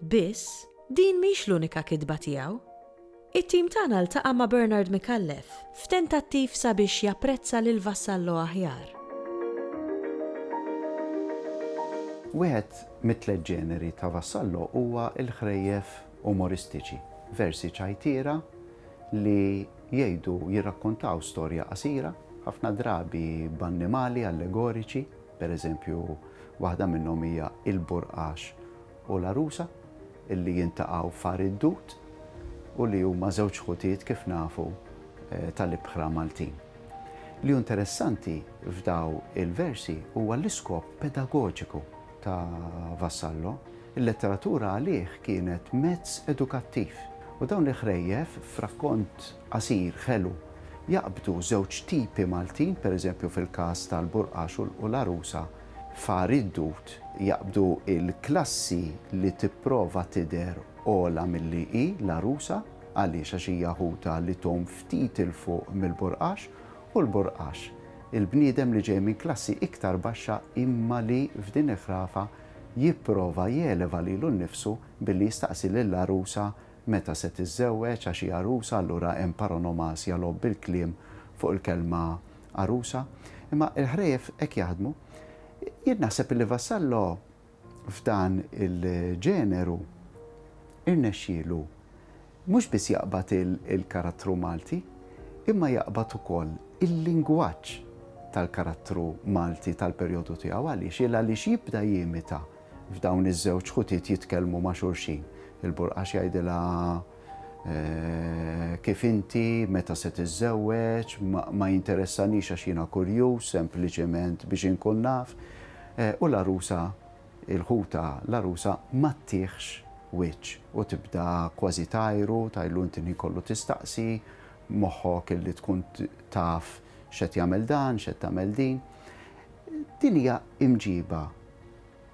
Biss, din mhix l-unika kitba tiegħu. It-tim tagħna ltaqa' ma' Bernard Micallef f'tentattiv sabiex japprezza lil Vassallo aħjar. Wieħed mit-tliet ġeneri ta' Vassallo huwa l-ħrejjef umoristiċi, versi ċajtiera li jgħidu, jirrakkontaw storja qasira, ħafna drabi b'annimali allegoriċi, pereżempju waħda minnhom hija Il-Burqax u l-għarusa li jintaqgħu f'Għar id-Dud u li huma żewġ ħutiet kif nafu tal-ibħra Maltin. Li hu interessanti f'daw il-versi huwa l-iskop pedagoġiku ta' Vassallo, il-letteratura għalih kienet mezz edukattiv u dawn il-ħrejjef f'rakkont qasir ħelu jaqbdu żewġ tipi Maltin, pereżempju fil-każ tal-Burqax u l-għarusa, F'Għar id-Dud jaqbdu l-klassi li tipprova tidher ogħla milli hi, l-għarusa, għaliex għax hija ħutha li tgħum ftit 'il fuq mill-burqax, u l-burqax, il-bniedem li ġej minn klassi iktar baxxa imma li, f'din il-ħrafa, jipprova jeleva lilu nnifsu billi jistaqsi lill-għarusa meta se tiżżewweġ għax hi għarusa allura hemm paronomasia logħob bil-kliem fuq il-kelma għarusa, imma il-ħrejjef hekk jaħdmu. Jien naħseb illi Vassallo f'dan il-ġeneru irnexxielu mhux biss jaqbad il-karattru Malti, imma jaqbad ukoll il-lingwaġġ tal-karattru Malti tal-perjodu tiegħu. Għaliex? Il għaliex jibda jimita f'dawn iż-żewġ ħutiet jitkellmu ma' xulxin. Il-Burqax jgħidilha Kif inti, meta se tiżżewweġ, ma jinteressanix għax jiena kurjuż, sempliċement biex inkun naf. U l-għarusa, il-ħutha, l-għarusa ma ttiħx wiċċ u tibda kważi tgħajru, tgħidlu inti l-ħin kollu tistaqsi, moħħok illi tkun taf x'qed jagħmel dan, x'qed tagħmel din. Din hija imġiba.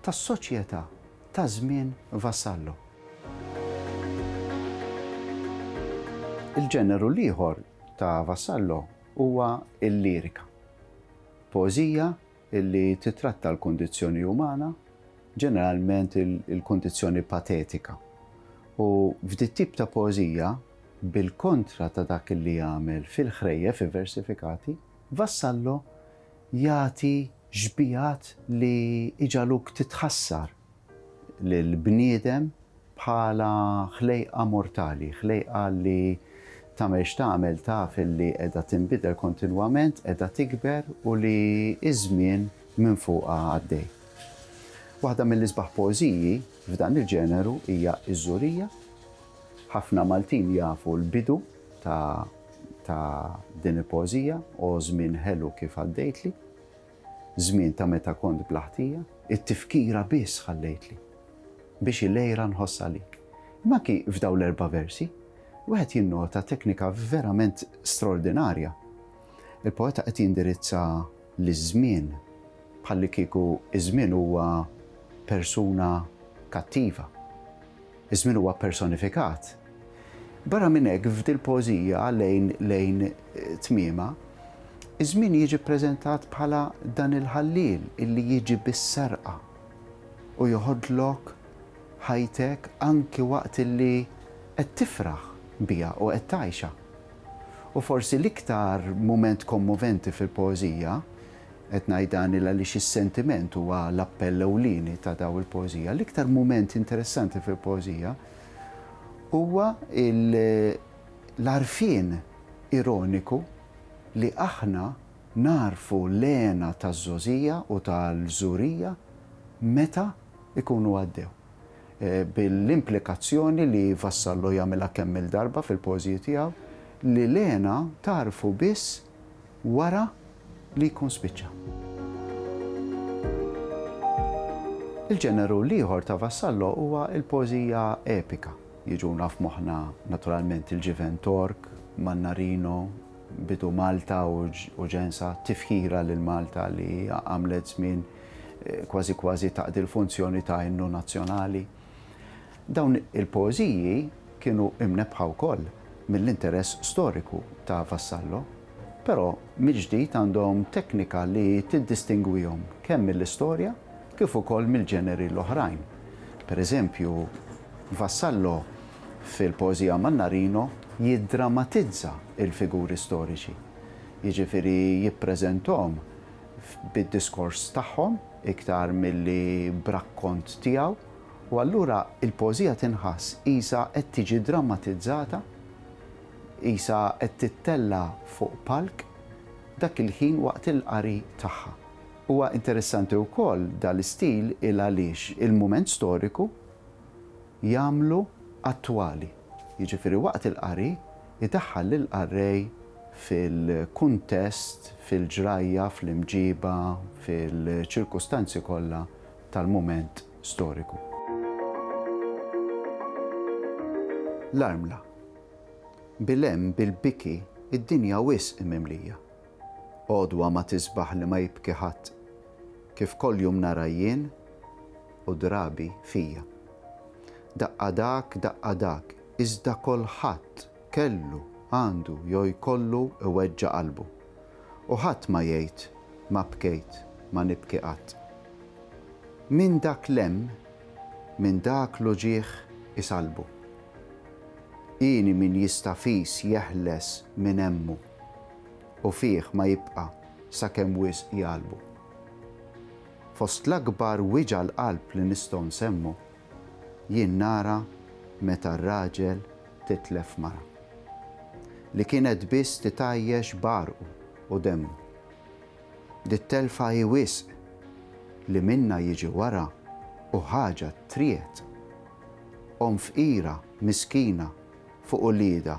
tas-soċjetà ta' żmien Vassallo. Il-ġeneru l-ieħor ta' Vassallo huwa l-lirika, poeżija li tittratta l-kundizzjoni umana, ġeneralment il-kundizzjoni patetika, u f'dit tip ta' poeżija, bil-kontra ta' dak li jagħmel fil-ħrejjef iversifikati, Vassallo jagħti xbigħat li jġagħluk titħassar lill-bniedem bħala ħlejqa mortali, ħlejqa li tagħmel x'tagħmel taf li qiegħda tinbidel kontinwament, qiegħda tikber u li ż-żmien minn fuqha għaddej. Waħda mill-isbaħ poeżiji f'dan il-ġeneru hija Iż-Żurija. Ħafna Maltin jafu l-bidu ta' ta' din il-poeżija, O żmien ħelu kif għaddejtli, Żmien ta' meta kont bla ħtija, It-tifkira biss ħallejtli, Biex il-għira nħoss għalik. Imma anki f'dawn l-erba' versi, wieħed jinnota teknika verament straordinarja. Il-poeta qed jindirizza liż-żmien bħallikieku ż-żmien huwa persuna kattiva. Iż-żmien huwa ppersonifikat. Barra minn hekk, f'dil-poeżija lejn lejn tmiemha, iż-żmien jiġi ppreżentat bħala dan il-ħalliel illi jiġi bis-serqa u joħodlok ħajtek anki waqt illi qed tifraħ biha u qed tgħixha. U forsi l-iktar mument kommoventi fil-poeżija Qed ngħid dan il għaliex is-sentiment huwa l-appell ewlieni ta' dawn il-poeżija. L-iktar mument interessanti fil-poeżija huwa l-għarfien ironiku li aħna nagħrfu l-hena taż-żgħożija u tal-żurija meta jkunu għaddew. Bil-implikazzjoni li Vassallo jagħmilha kemm-il darba fil-poeżiji tiegħu li l-hena tagħrfu biss wara li jkun spiċċa. Il-ġeneru l-ieħor ta' Vassallo huwa l-poeżija epika. Jiġuna f'moħħna naturalment il-ġiven Tork, Mannarino, Bidu Malta u Ġensa, tifħira lil Malta li għamlet żmien kważi kważi taqdi l-funzjoni ta' innu nazzjonali. Dawn il-poeżiji kienu imnebbħa wkoll mill-interess storiku ta' Vassallo, però mill-ġdid għandhom teknika li tiddistingwihom kemm mill-istorja kif ukoll mill-ġeneri l-oħrajn. Per eżempju, Vassallo fil-poeżija Mannarino jiddramatizza l-figuri storiċi, jiġifieri jippreżentahom, bid-diskors tagħhom iktar milli b'rakkont tiegħu, u allura l-poeżija tinħass qisha qed tiġi drammatizzata, qisha qed tittella' fuq palk, dak il-ħin waqt il-qari tagħha. Huwa interessanti wkoll dal-istil il għaliex il-mument storiku jagħmlu attwali. jiġifieri waqt il-qari, idaħħal lill-qarrej fil-kuntest, fil-ġrajja, fl-imġiba, fil-ċirkustanzi kollha tal-mument storiku. L-armla. Bil-hemm, bil-biki, id-dinja wisq mimlija. Għodwa ma tisbaħ li ma jibki ħadd, kif koljum nara jien u drabi fija. Daqqa dak, daqqa dak, iżda kolħadd kellu, għandu jew jkollu iweġġa' qalbu. U ħadd ma jgħid, ma bkejt, ma nibki qatt. Min dak lemm, min dak l-uġigħ isallbu. Hieni min jista' fis jeħles min hemmu. u fih ma jibqa' sakemm wisq jgħallbu. Fost l-akbar wiġgħa l-qalb li nistgħu nsemmu, jien nara meta r-raġel titlef mara. Li kienet biss titgħajjex b'għarqu u demmu. Dit-telfa hi wisq, li minnha jiġi wara u ħaġa triegħed. Omm fqira, miskina, fuq uliedha